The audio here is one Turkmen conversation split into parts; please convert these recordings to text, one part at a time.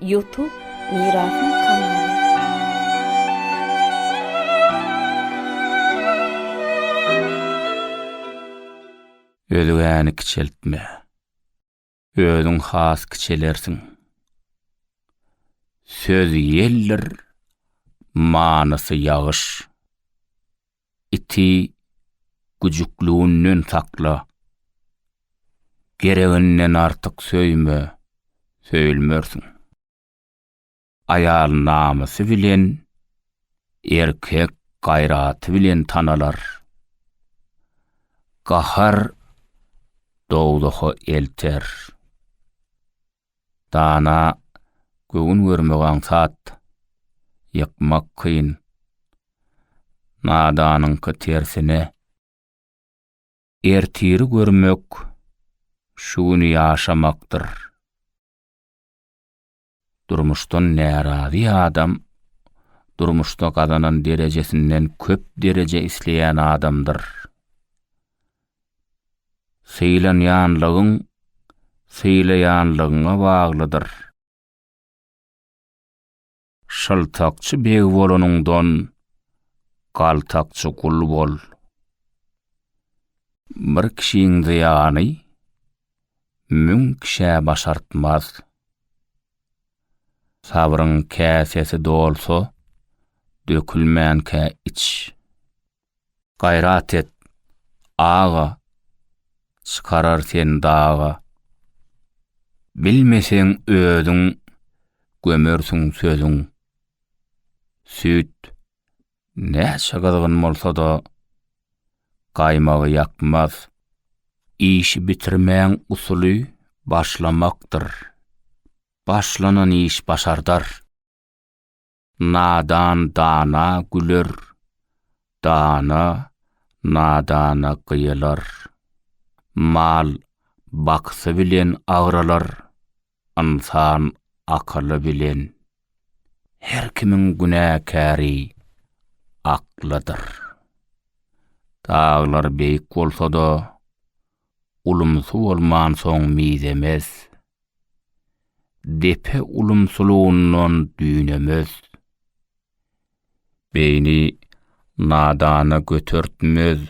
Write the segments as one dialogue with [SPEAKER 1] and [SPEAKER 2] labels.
[SPEAKER 1] Ýutub Mirasyň kanaly. Özgäni kiçeltme. Özüň has kiçelersiň. Söz ýeldir, manysy ýagyş. iti güjüklüginden sakla. Gereginden artyk söýme, söýülmersiň. Aýal namysy bilen, erkek gaýraty bilen tanalar. Gahar dowzaha elter. Dana göwün görmek aňsat, ýykmak kyn. Nadanyňky tersine. Ertiri görmek, şu güni ýaşamakdyr. Durmuşdan närazy adam durmuşda gazanan derejesinden köp dereje isleýän adamdyr. Sylanýanlygyň sylaýanlygyňa baglydyr. Şyltakçy beg bolanyňdan, galtakçy gul bol. Bir kişiň zyýany müň kişä başartmaz. Sabryň käsesi dolsa, dökülmänkä iç. Gaýrat et, aga, çykarar seni daga. Bilmeseň özüň, gömersiň sözüň. Süýt näçe gyzgyn bolsa-da, gaýmagy ýakmaz. Işi bitirmäň usuly başlamakdyr. Başlanan iş başardar. Nadan dana güler, dana nadana gyýylar. Mal baksy bilen agralar, ynsan akyly bilen. Her kimiň günäkäri aklydyr. Daglar beýik bolsa-da, ulumsy bolmansoň mizemez. depe ulumsylygyndan düýnemez. Beýni nadana götertmez,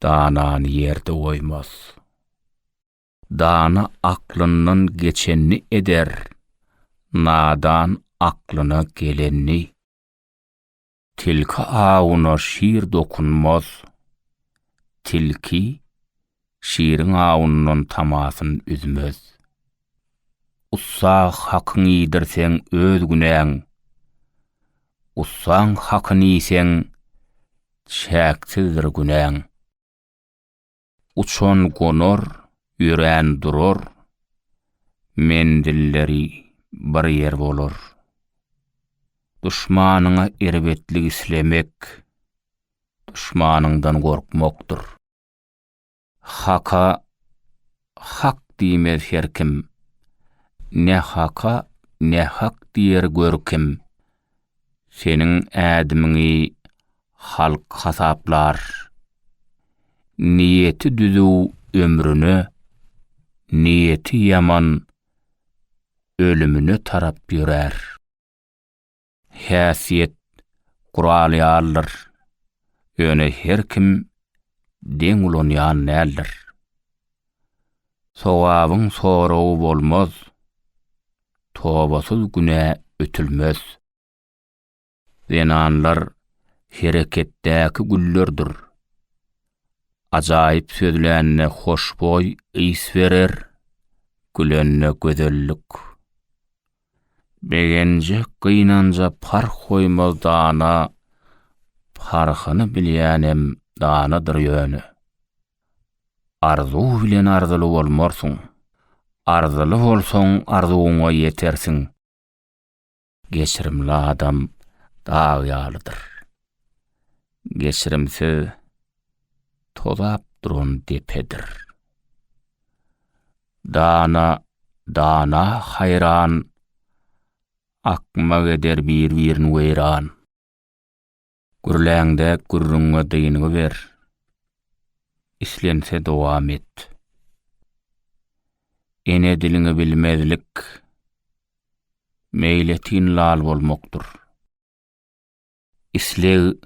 [SPEAKER 1] danany ýerde goýmaz. Dana aklyndan geçenini eder, nadan aklyna gelenini. Tilki awuna şir dokunmaz. Tilki şiriň awundan tamasyn üzmez. Ussa hakyň iýdirseň öz günäň. Ussaň hakyny iýseň çäksizdir günäň. Uçan gonar, ýörän durar, menzilleri bir ýer bolar. Duşmanyňa erbetlik islemek, duşmanyňdan gorkmakdyr. Haka hak diýmez her kim, ne haka, ne hak diýer gör kim. Seniň ädimiňi Halk hasaplar. Niýeti düzüw ömrüne, niýeti ýaman ölümine tarap ýörär. Häsiýet gural ýalydyr. Ýöne her kim deň ulanýan däldir. Sogabyň soragy bolmaz. Tobasyz günä ötülmez. Zenanlar hereketdäki güllerdir. Ajaýyp sözlände hoşboý ys berer, gülende gözellik. Begenje, gynanja parh goýmaz dana, parhyny bilýänem danadyr ýöne. Arzuw bilen arzyly bolmarsyň. Arzyly bolsaň arzuwyňa ýetersiň. Geçirimli adam dag ýalydyr. Geçirimsiz tozap duran depedir. Dana dana haýran, akmak eder bir-birini weýran. Gürläňde gürrüňe dynygy ber. Islense dowam et. Ene diliňi bilmezlik meýletin lal bolmakdyr. Isleg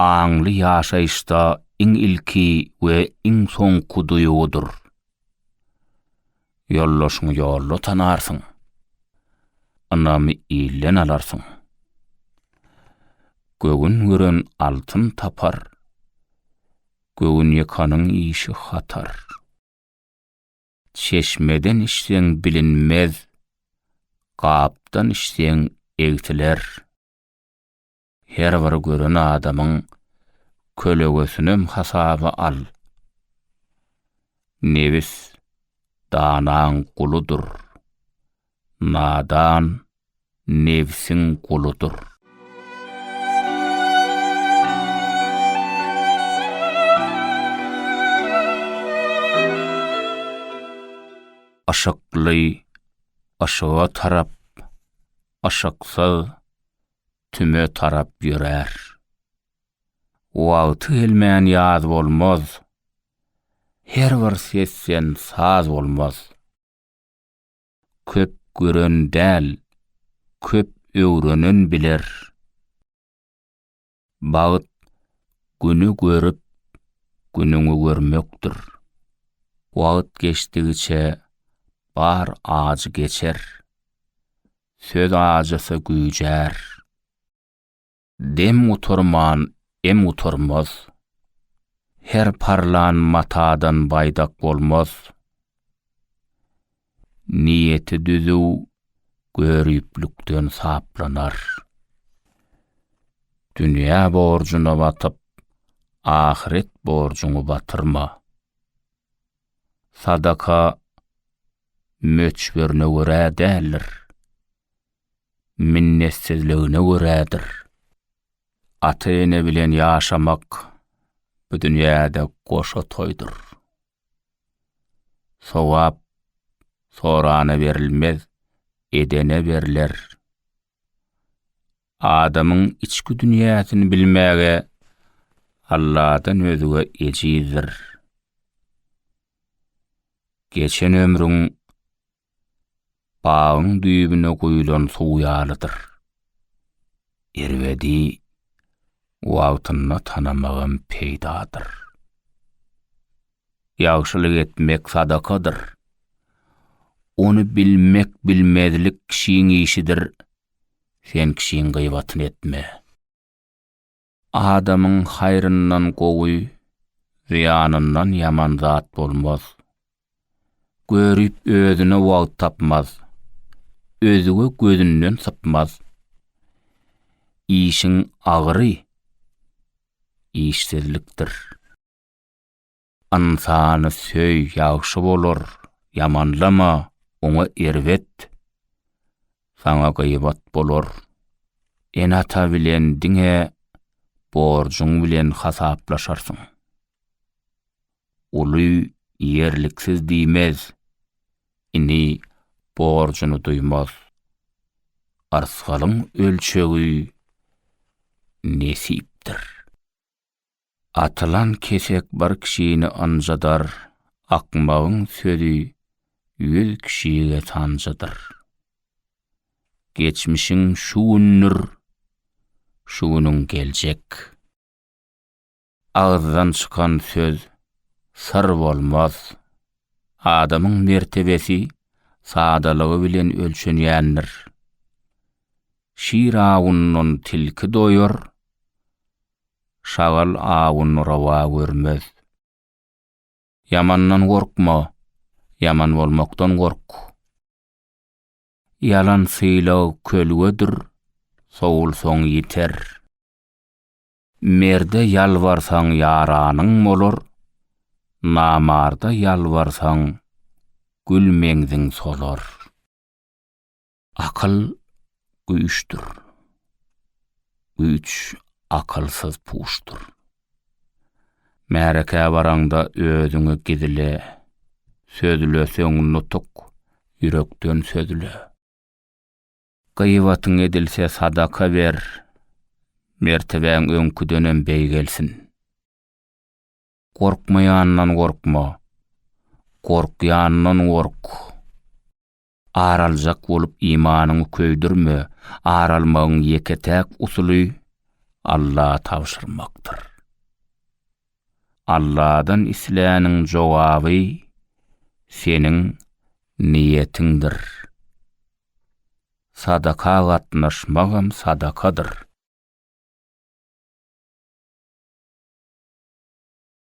[SPEAKER 1] aňly ýaşaýyşda iň ilki we iň soňky duýgudyr. Ýoldaşyňy ýolda tanarsyň. Ynamy ilden alarsyň. Göwün gören altyn tapar. Göwünýakanyň işi hatar. Çeşmeden içseň bilinmez, gapdan içseň egsiler. Her bir gören adamyň kölegesinem hasaba al. Nebis danaň guludyr. Nadan nebsiň guludyr. Yşykly yşyga tarap, yşyksyz tüme tarap ýörär. Wagty gelmän ýaz bolmaz, her bir sesden saz bolmaz. Köp gören däl, köp öwrenen biler. Bagt güni görüp, günüňi görmekdir. Wagt geçdigiçe bar ajy geçer. Söz ajysa güýjär. Dem gutarman em gutarmaz. Her parlan matadan baýdak bolmaz. Niýeti düzüw göriplikden saplanar. Dünýä borjuna batyp, ahyret borjuňy batyrma. sadaka möçberine görä däldir, minnetsizligine görädir. Ata-ene bilen ýaşamak bu dünýäde goşa toýdur. Sogap sorana berilmez, edene berler. Adamyň içki dünýäsini bilmäge Alladan özge ejizdir. Geçen ömrüň bagyň düýbüne guýlan suw ýalydyr. Erbedi wagtynda tanamagam peýdadyr. Ýagşylyk etmek sadakadyr. Ony bilmek-bilmezlik kişiň işidir, sen kişiň gyýbatyny etme. Adamyň haýryndan gowy, zyýanyndan ýaman zat bolmaz, Görüp özüne wagt tapmaz. Özge gözünden sypmaz. Işiň agyry işsizlikdir. Ynsany söý ýagşy bolar, ýamanlama oňa erbet. Saňa gyýbat bolar. Ene-ata bilen diňe borjuň bilen hasaplaşarsyň. uly ýerliksiz diýmez, ini borjuny duýmaz. Arsgalyň ölçegi nesipdir. Atylan kesek bir kişini ynjydar, akmagyň sözi ýüz kişige sanjydyr. Geçmişiň şu gündir, şu günüň geljek. Agyzdan çykan söz syr bolmaz. Adamyň mertebesi sadalygy bilen ölçenýändir. Şir awundan tilki doýar, şagal awuny rowa görmez. Ýamandan gorkma, ýaman bolmakdan gork. Ýalan sylag kölgedir, sowulsaň ýiter. Merde ýalbarsaň ýaranyň bolar, Namarda ýalbarsaň gül meňziň solar. Akyl güýçdür. Güýç akylsyz puşdur. Märekä baraňda özüňi gizle, Sözleseň nutuk, ýürekden sözle. Gyýbatyň edilse sadaka ber, mertebäň öňküdenem beýgelsin. Gorkmaýandan gorkma, gorkýandan gork. Ar aljak bolup imanyňy köýdürme, ar almagyň ýeke-täk usuly Alla tabşyrmakdyr. Alladan isläniň jogaby seniň niýetiňdir. Sadaka gatnaşmagam sadakadyr.